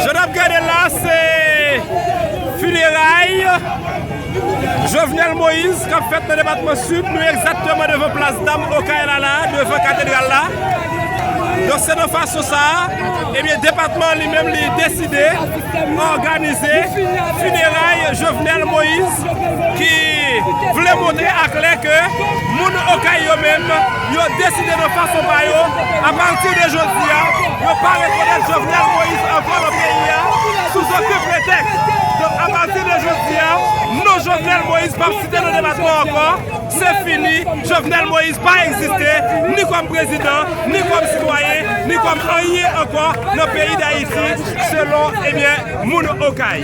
Jan nap gade la se Fineray Jovenel Moïse kap fèt nan depatman Sid Nou egzakteman devan plas dam Okay la la Devan katedral la Donk se nan fason sa Ebyen depatman an li menm li deside Òganize Fineray Jovenel Moïse ki vle montre aklè ke moun Okay yo menm yo deside nan fason pa yo a pati de jodi a yo pa rekonèt Jovenel Moïse ankò nan peyi a sou zoken pretèks donk a pati de jodi a non Jovenel Moïse pap site nan depatman an ankò se fini Jovenel Moïse pa egziste ni kòm prezidan ni kòm sitwayen ni kòm anyen ankò nan peyi Dayiti selon ebyen moun Okay.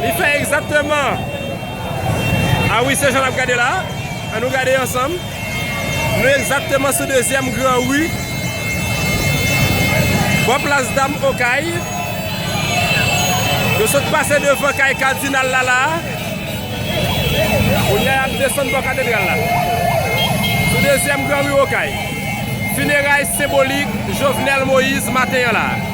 Li fè egzakteman a wi se jan nap gade la an nou gade ansanm nou egzakteman sou dezyèm gran ri bò plas dam okay nou sot pase devan kay kadinal la la kounye a nap desann bò katedral la sou dezyèm gran ri okay fineray senbolik jovenel moïse maten an la.